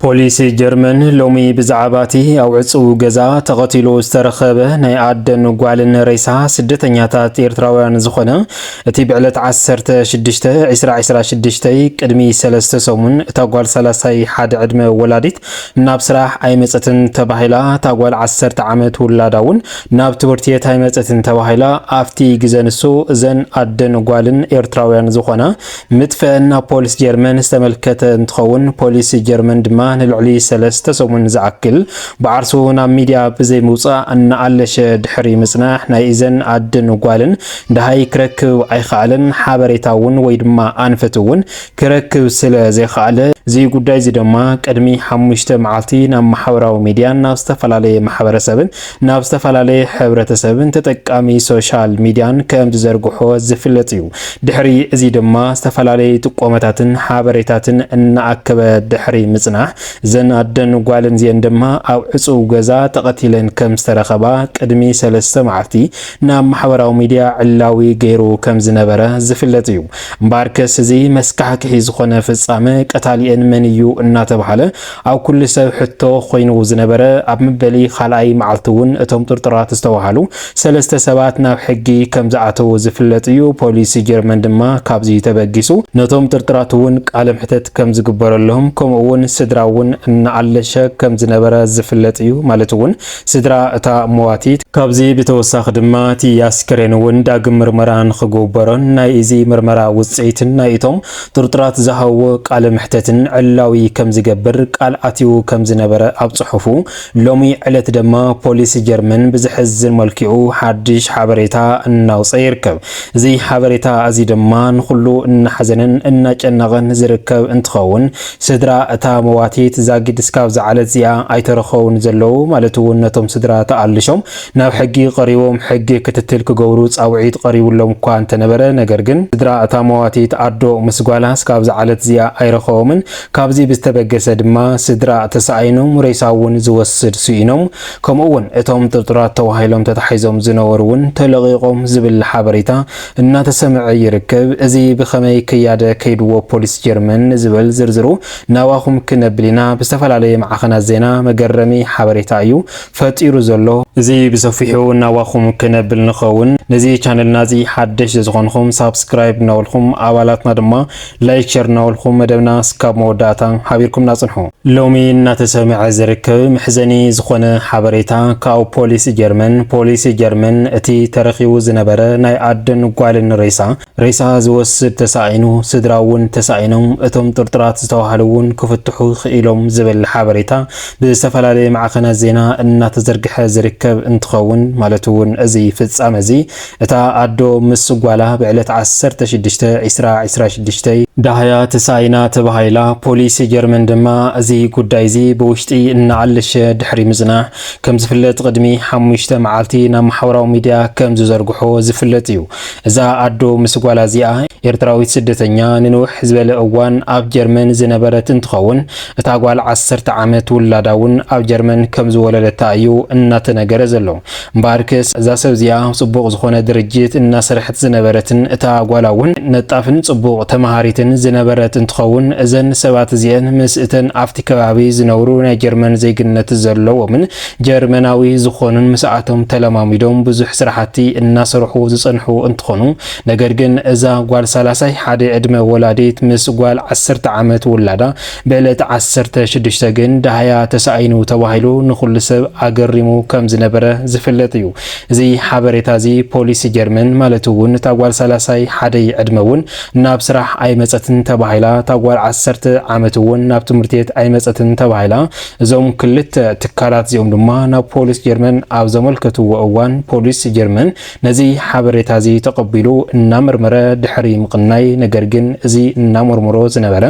ፖሊስ ጀርመን ሎሚ ብዛዕባ እቲ ኣብ ዕጹው ገዛ ተቐቲሉ ዝተረኸበ ናይ ኣደን ጓልን ሬሳ ስደተኛታት ኤርትራውያን ዝኾነ እቲ ብዕለት ዓሰርተ ሽዱሽተ ዕስራ ዕስራ ሽዱሽተይ ቅድሚ ሰለስተ ሰሙን እታ ጓል ሰላሳይ ሓደ ዕድመ ወላዲት ናብ ስራሕ ኣይመጸትን ተባሂላ እታ ጓል ዓሰርተ ዓመት ውላዳ እውን ናብ ትምህርቲ ቤት ኣይመጸትን ተባሂላ ኣብቲ ግዘ ንሱ እዘን ኣደን ጓልን ኤርትራውያን ዝኾና ምጥፍእን ናብ ፖሊስ ጀርመን ዝተመልከተ እንትኸውን፣ ፖሊስ ጀርመን ድማ ንልዕሊ ሰለስተ ሰሙን ዝኣክል ብዓርሱ ናብ ሚድያ ብዘይምውፃእ እናኣለሸ ድሕሪ ምፅናሕ ናይ እዘን ኣድን ጓልን ደሃይ ክረክብ ኣይኸኣለን። ሓበሬታ እውን ወይ ድማ ኣንፈት እውን ክረክብ ስለ ዘይኸኣለ፣ እዚ ጉዳይ እዚ ድማ ቅድሚ ሓሙሽተ መዓልቲ ናብ ማሕበራዊ ሚድያን ናብ ዝተፈላለየ ማሕበረሰብን ናብ ዝተፈላለየ ሕብረተሰብን ተጠቃሚ ሶሻል ሚድያን ከም ዝዘርግሖ ዝፍለጥ እዩ። ድሕሪ እዚ ድማ ዝተፈላለዩ ጥቆመታትን ሓበሬታትን እናኣከበ ድሕሪ ምፅናሕ እዘን ኣደን ጓልን እዚኤን ድማ ኣብ ዕፁው ገዛ ተቐቲለን ከም ዝተረኸባ ቅድሚ ሰለስተ መዓልቲ ናብ ማሕበራዊ ሚድያ ዕላዊ ገይሩ ከም ዝነበረ ዝፍለጥ እዩ። እምበኣርከስ እዚ መስካሕክሒ ዝኾነ ፍፃመ ቀታሊኤን መን እዩ እናተብሃለ ኣብ ኩሉ ሰብ ሕቶ ኮይኑ ዝነበረ ኣብ መበሊ ካልኣይ መዓልቲ እውን እቶም ጥርጡራት ዝተብሃሉ ሰለስተ ሰባት ናብ ሕጊ ከም ዝኣተዉ ዝፍለጥ እዩ። ፖሊስ ጀርመን ድማ ካብዚ ተበጊሱ ነቶም ጥርጡራት እውን ቃለ መሕተት ከም ዝግበረሎም ከምኡ እውን ስድራ እውን እናኣለሸ ከም ዝነበረ ዝፍለጥ እዩ ማለት እውን ስድራ እታ መዋቲት። ካብዚ ብተወሳኺ ድማ እቲ ኣስከሬን እውን ዳግም ምርመራ ንኽግበሮን ናይ እዚ ምርመራ ውፅኢትን ናይ እቶም ጥርጥራት ዝሃብዎ ቃለ መሕተትን ዕላዊ ከም ዝገብር ቃል ኣትዩ ከም ዝነበረ ኣብ ጽሑፉ፣ ሎሚ ዕለት ደማ ፖሊስ ጀርመን ብዘሕዝን መልክዑ ሓድሽ ሓበሬታ እናውጸ ይርከብ። እዚ ሓበሬታ እዚ ድማ ንኹሉ እናሕዘነን እናጨነቐን ዝርከብ እንትኸውን፣ ስድራ እታ መዋቲት ዛጊድ እስካብ ዝዓለት እዚኣ ኣይተረኸቡን ዘለዉ ማለት'ውን ነቶም ስድራ ተኣልሾም ናብ ሕጊ ቀሪቦም ሕጊ ክትትል ክገብሩ ፃውዒት ቐሪቡሎም እኳ እንተነበረ ነገር ግን ስድራ እታ መዋቲት ኣዶ ምስ ጓላ እስካብዛ ዓለት እዚኣ ኣይረኸቦምን። ካብዚ ብዝተበገሰ ድማ ስድራ ተሳኣይኖም ሬሳ እውን ዝወስድ ስኢኖም ከምኡ እውን እቶም ጥርጡራት ተባሂሎም ተታሒዞም ዝነበሩ እውን ተለቒቖም ዝብል ሓበሬታ እናተሰምዐ ይርከብ። እዚ ብኸመይ ክያደ ከይድዎ ፖሊስ ጀርመን ንዝብል ዝርዝሩ ናባኹም ክነብል ኢና። ብዝተፈላለየ ማዕኸናት ዜና መገረሚ ሓበሬታ እዩ። ፈጢሩ ዘሎ። እዚ ብሰፊሑ ናባኹም ክነብል ንኸውን ነዚ ቻነልና እዚ ሓደሽ ዘዝኾንኹም ሳብስክራይብ እናበልኹም ኣባላትና ድማ ላይክ ሸር እናበልኹም መደብና ስካብ መወዳእታ ሓቢርኩምና ጽንሑ። ሎሚ እናተሰምዐ ዝርከብ መሕዘኒ ዝኾነ ሓበሬታ ካብ ፖሊስ ጀርመን ፖሊስ ጀርመን እቲ ተረኺቡ ዝነበረ ናይ ኣደን ጓልን ሬሳ ሬሳ ዝወስድ ተሳኢኑ፣ ስድራ እውን ተሳኢኖም፣ እቶም ጥርጡራት ዝተባህሉ እውን ክፍትሑ ክኢሎም ዝብል ሓበሬታ ብዝተፈላለየ ማዕኸናት ዜና እናተዘርግሐ ዝርከብ እንትኸውን ማለት እውን እዚ ፍፃመ እዚ እታ ኣዶ ምስ ጓላ ብዕለት ዓሰርተ ሽዱሽተ ዕስራ ዕስራ ሽዱሽተ ዳህያ ተሳኢና ተባሂላ፣ ፖሊስ ጀርመን ድማ እዚ ጉዳይ እዚ ብውሽጢ እናኣለሸ ድሕሪ ምፅናሕ ከምዝፍለጥ ቕድሚ ሓሙሽተ መዓልቲ ናብ ማሕበራዊ ሚድያ ከምዝዘርግሖ ዝፍለጥ እዩ። እዛ ኣዶ ምስ ጓላ እዚኣ ኤርትራዊት ስደተኛ ንንውሕ ዝበለ እዋን ኣብ ጀርመን ዝነበረት እንትኸውን እታ ጓል ዓሰርተ ዓመት ውላዳ እውን ኣብ ጀርመን ከም ዝወለደታ እዩ እናተነገረ ዘሎ። እምበኣርከስ እዛ ሰብ እዚኣ ጽቡቕ ዝኾነ ድርጅት እናሰርሐት ዝነበረትን እታ ጓላ እውን ነጣፍን ጽቡቕ ተመሃሪትን ዝነበረት እንትኸውን እዘን ሰባት እዚኤን ምስ እተን ኣብቲ ከባቢ ዝነብሩ ናይ ጀርመን ዜግነት ዘለዎምን ጀርመናዊ ዝኾኑን ምስኣቶም ተለማሚዶም ብዙሕ ስራሕቲ እናሰርሑ ዝፀንሑ እንትኾኑ ነገር ግን እዛ ጓል ሳላሳይ ሓደ ዕድመ ወላዲት ምስ ጓል ዓሰርተ ዓመት ውላዳ ብዕለት ዓሰርተ ሽዱሽተ ግን ዳህያ ተሳኢኑ ተባሂሉ ንኹሉ ሰብ ኣገሪሙ ከምዝነበረ ዝፍለጥ እዩ። እዚ ሓበሬታ እዚ ፖሊስ ጀርመን ማለት እውን እታ ጓል ሳላሳይ ሓደይ ዕድመ እውን ናብ ስራሕ ኣይመፀትን ተባሂላ እታ ጓል ዓሰርተ ዓመት እውን ናብ ትምህርት ቤት ኣይመፀትን ተባሂላ እዞም ክልተ ትካላት እዚኦም ድማ ናብ ፖሊስ ጀርመን ኣብ ዘመልከትዎ እዋን ፖሊስ ጀርመን ነዚ ሓበሬታ እዚ ተቐቢሉ እናመርመረ ድሕሪ ምቕናይ ነገር ግን እዚ እናመርመሮ ዝነበረ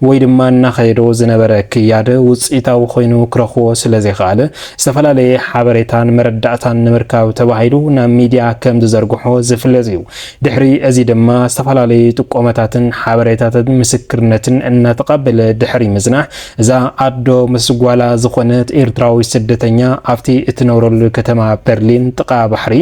ወይ ድማ እናኸየዶ ዝነበረ ክያድ ውፅኢታዊ ኮይኑ ክረኽቦ ስለዘይኸኣለ ዝተፈላለየ ሓበሬታን መረዳእታን ንምርካብ ተባሂሉ ናብ ሚዲያ ከም ዝዘርግሖ ዝፍለጥ እዩ። ድሕሪ እዚ ድማ ዝተፈላለዩ ጥቆመታትን ሓበሬታትን ምስክርነትን እናተቐበለ ድሕሪ ምፅናሕ እዛ ኣዶ ምስ ጓላ ዝኾነት ኤርትራዊት ስደተኛ ኣብቲ እትነብረሉ ከተማ በርሊን ጥቓ ባሕሪ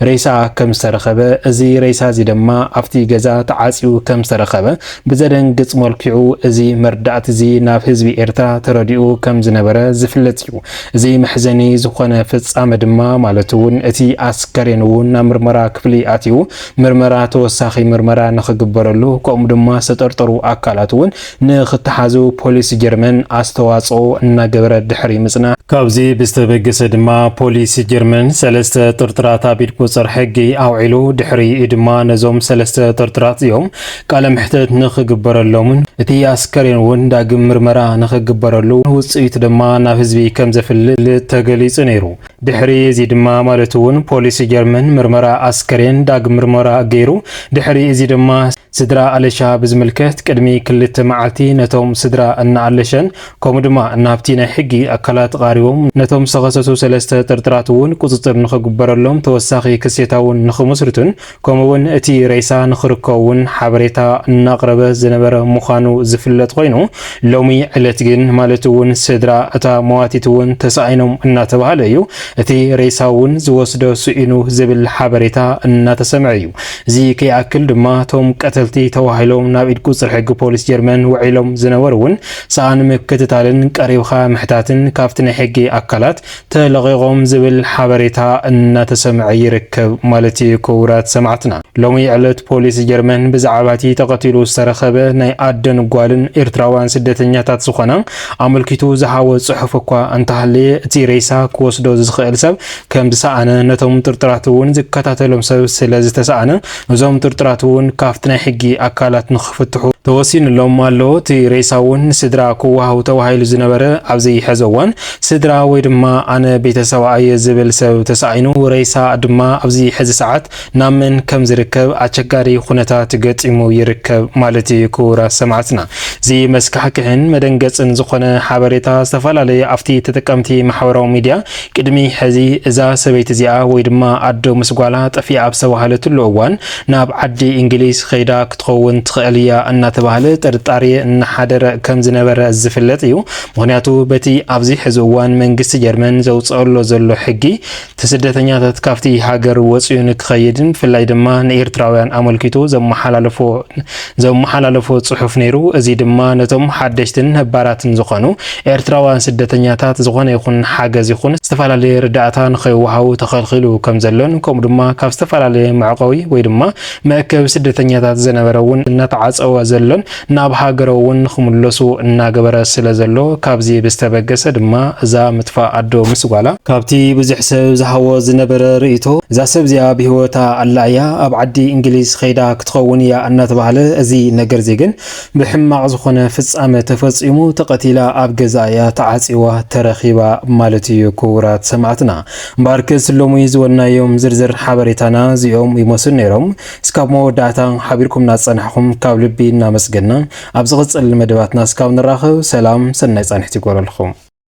ሬሳኣ ከም ዝተረኸበ እዚ ሬሳ እዚ ድማ ኣብቲ ገዛ ተዓጽዩ ከም ዝተረኸበ ብዘደንግጽ መልክዑ እዚ መርዳእቲ እዚ ናብ ህዝቢ ኤርትራ ተረዲኡ ከም ዝነበረ ዝፍለጥ እዩ። እዚ መሕዘኒ ዝኾነ ፍጻመ ድማ ማለት እውን እቲ ኣስከሬን እውን ናብ ምርመራ ክፍሊ ኣትዩ ምርመራ ተወሳኺ ምርመራ ንኽግበረሉ ከምኡ ድማ ዝተጠርጠሩ ኣካላት እውን ንኽተሓዙ ፖሊስ ጀርመን ኣስተዋጽኦ እናገበረ ድሕሪ ምጽናሕ፣ ካብዚ ብዝተበገሰ ድማ ፖሊስ ጀርመን ሰለስተ ጥርጥራት ኣብ ኢድ ቁጽር ሕጊ ኣውዒሉ፣ ድሕሪኡ ድማ ነዞም ሰለስተ ጥርጥራት እዚኦም ቃለ መሕተት ንኽግበረሎምን እቲ ኣስከሬን እውን ዳግም ምርመራ ንኽግበረሉ ውጽኢቱ ድማ ናብ ህዝቢ ከም ዘፍልጥ ተገሊጹ ነይሩ። ድሕሪ እዚ ድማ ማለት እውን ፖሊስ ጀርመን ምርመራ ኣስከሬን ዳግም ምርመራ ገይሩ፣ ድሕሪ እዚ ድማ። ስድራ ኣለሻ ብዝምልከት ቅድሚ ክልተ መዓልቲ ነቶም ስድራ እነ ኣለሸን ከምኡ ድማ እነ ሃብቲ ናይ ሕጊ ኣካላት ቓሪቦም ነቶም ዝተኸሰሱ ሰለስተ ጥርጥራት እውን ቁፅፅር ንክግበረሎም ተወሳኺ ክሴታ እውን ንክምስርቱን ከምኡ እውን እቲ ሬሳ ንክርከ እውን ሓበሬታ እናቕረበ ዝነበረ ምዃኑ ዝፍለጥ ኮይኑ ሎሚ ዕለት ግን ማለት እውን ስድራ እታ መዋቲት እውን ተሳኢኖም እናተባሃለ እዩ እቲ ሬሳ እውን ዝወስዶ ስኢኑ ዝብል ሓበሬታ እናተሰምዐ እዩ። እዚ ከይኣክል ድማ እቶም ቀተልቲ ተባሂሎም ናብ ኢድ ቁጽሪ ሕጊ ፖሊስ ጀርመን ውዒሎም ዝነበሩ እውን ሰኣን ምክትታልን ቀሪብካ ምሕታትን ካብቲ ናይ ሕጊ ኣካላት ተለቒቖም ዝብል ሓበሬታ እናተሰምዐ ይርከብ ማለት እዩ። ክቡራት ሰማዕትና ሎሚ ዕለት ፖሊስ ጀርመን ብዛዕባ እቲ ተቐቲሉ ዝተረኸበ ናይ ኣደን ጓልን ኤርትራውያን ስደተኛታት ዝኾና ኣመልኪቱ ዝሃቦ ጽሑፍ እኳ እንተሃለየ እቲ ሬሳ ክወስዶ ዝኽእል ሰብ ከምዝሰኣነ ነቶም ጥርጥራት እውን ዝከታተሎም ሰብ ስለዝተሰኣነ እዞም ጥርጥራት እውን ካፍቲ ናይ ሕጊ ኣካላት ንክፍትሑ ተወሲንሎም ኣሎ። እቲ ሬሳ እውን ንስድራ ክወሃቡ ተባሂሉ ዝነበረ ኣብዚ ሐዚ እዋን ስድራ ወይ ድማ ኣነ ቤተሰባ እየ ዝብል ሰብ ተሳኢኑ ሬሳ ድማ ኣብዚ ሐዚ ሰዓት ናብ መን ከም ዝርከብ ኣቸጋሪ ኹነታት ገጢሙ ይርከብ ማለት እዩ ክቡራት ሰማዕትና እዚ መስካሕክሕን መደንገጽን ዝኾነ ሓበሬታ ዝተፈላለዩ ኣፍቲ ተጠቀምቲ ማሕበራዊ ሚድያ ቅድሚ ሕዚ እዛ ሰበይቲ እዚኣ ወይ ድማ ኣዶ ምስ ጓላ ጠፊኣ ኣብ ዝተባሃለትሉ እዋን ናብ ዓዲ እንግሊዝ ኸይዳ ክትኸውን ትኽእል እያ እናተባህለ ጥርጣሬ እናሓደረ ከም ዝነበረ ዝፍለጥ እዩ ምኽንያቱ በቲ ኣብዚ ሕዚ እዋን መንግስቲ ጀርመን ዘውጸእሎ ዘሎ ሕጊ እቲ ስደተኛታት ካብቲ ሃገር ወጺኡ ንክኸይድን ብፍላይ ድማ ንኤርትራውያን ኣመልኪቱ ዘመሓላለፎ ዘመሓላለፎ ጽሑፍ ነይሩ። እዚ ድማ ነቶም ሓደሽትን ነባራትን ዝኾኑ ኤርትራውያን ስደተኛታት ዝኾነ ይኹን ሓገዝ ይኹን ዝተፈላለየ ርዳእታ ንኸይወሃቡ ተኸልኺሉ ከም ዘሎን ከምኡ ድማ ካብ ዝተፈላለየ መዕቆቢ ወይ ድማ መእከቢ ስደተኛታት ዝነበረ እውን እናተዓጸወ ዘሎን ናብ ሃገረውን ንኽምለሱ እናገበረ ስለ ዘሎ፣ ካብዚ ብዝተበገሰ ድማ እዛ ምጥፋእ ኣዶ ምስ ጓላ፣ ካብቲ ብዙሕ ሰብ ዝሃቦ ዝነበረ ርእይቶ እዛ ሰብ እዚኣ ብህይወታ ኣላ እያ፣ ኣብ ዓዲ እንግሊዝ ኸይዳ ክትኸውን እያ እናተባህለ እዚ ነገርዚ ግን ብሕማቕ ዝኾነ ፍጻመ ተፈጺሙ ተቐቲላ ኣብ ገዝኣ እያ ተዓጽዋ ተረኺባ ማለት እዩ ክቡራት ሰማዕትና እምበኣርከስ ሎሚ ዝበልናዮም ዝርዝር ሓበሬታና እዚኦም ይመስሉ ነይሮም እስካብ መወዳእታ ሓቢርኩምና ዝጸናሕኹም ካብ ልቢ እናመስገና ኣብ ዝቕጽል መደባትና እስካብ ንራኸብ ሰላም ሰናይ ጻንሒት ይግበረልኹም።